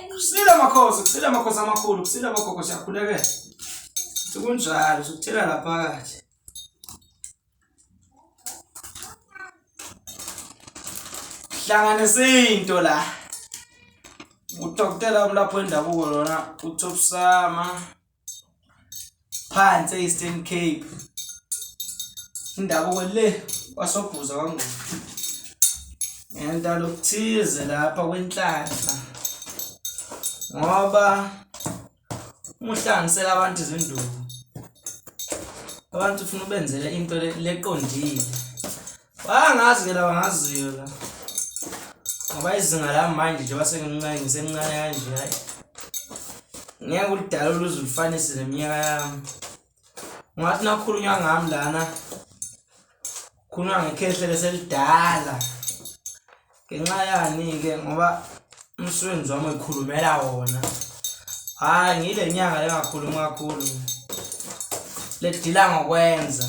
Kusile makhosi, kusile makhosi amakhulu, kusile bogogo siyakhulekela. Sekunjalo, sikuthela la phakathi. Hlanganisa into la. Udokotela umlapho wendabuko lona uThobsama. phansi e-eastern cape indabuko le kwasobhuza kwangqondo ngentalo okuthize lapha kwenhlanhla ngoba umuhlangisela abantu izinduku abantu ufuna ubenzele into leqondile Bangazi ke laba ngaziyo la. Ngoba izinga la manje njengoba sengincane ngisemncane kanje hayi. Ngeke ulidala oluze ulifanise neminyaka yami. Ungathi nakhulunywa ngami lana. Khulunywa ngekhehle leselidala. Ngenxa yani-ke ngoba umsebenzi wami uyikhulumela wona. Hhayi ngile nyanga lengakhulumi kakhulu. Ledila ngokwenza.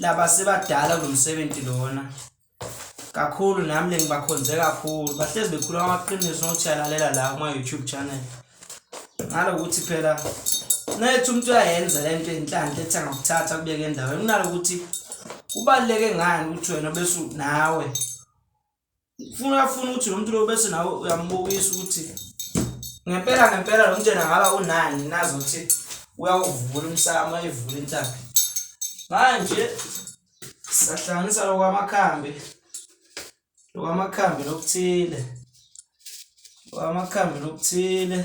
laba sebadala kulo msebenzi lona kakhulu nami le ngibakhonze kakhulu bahlezi bekhuluma amaqiniso nokuthi yalalela la kuma-youtube channel ngalokuthi phela nayethi umuntu uyayenza le nto enhlanhla ethi angakuthatha kubeke endaweni kunalokuthi kubaluleke ngani ukuthi wena bese nawe Ufuna uyafuna ukuthi lo muntu lo bese nawe uyambukisa ukuthi ngempela ngempela lo mntwana ngaba unani nazi ukuthi uyawuvula umsamo ayivula intaba manje sahlanganisa lokwamakhambi lokwamakhambi lokuthile lokwamakhambi lokuthile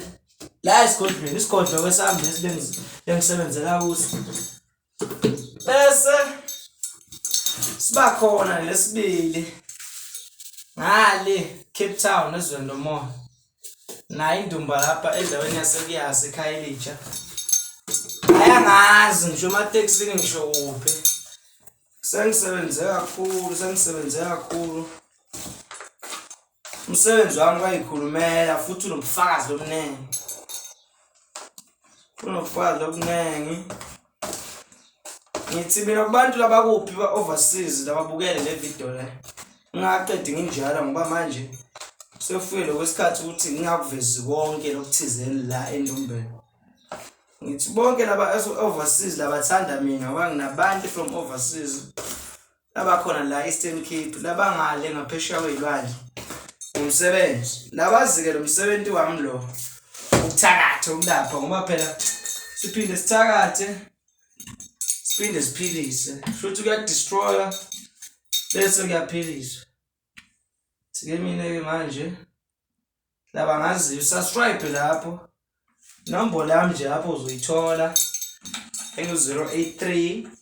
la esigodlweni isigodlo kwesami lesi bengisebenzela kuso bese siba khona lesibili ngale Cape Town ezweni lomoya nayo indumba lapha endaweni yasekuyazi ekhaya elitsha ayangazi ngisho ematekisini ngisho kuphi sengisebenze kakhulu sengisebenze kakhulu Umsebenzi wami kwayikhulumela futhi unobufakazi obuningi. Unobufakazi obuningi. Ngithi mina kubantu labakuphi ba-overseas lababukele le video le. Ngingaqedi nginjalo ngoba manje sekufike lokwesikhathi ukuthi ngingakuvezi konke lokuthizeni la endumbeni. Ngithi bonke laba overseas labathanda mina ngoba nginabantu from overseas labakhona la Eastern Cape labangale ngaphesheya kwezilwandle umsebenzi labazike lo msebenzi wami lo ukuthakatha ukulapha ngoba phela siphinde sithakathe siphinde siphilise futhi kuyadestroya bese kuyaphiliswa sike mina ke manje laba ngaziyo subscribe lapho inombolo yami nje lapho uzoyithola engu-083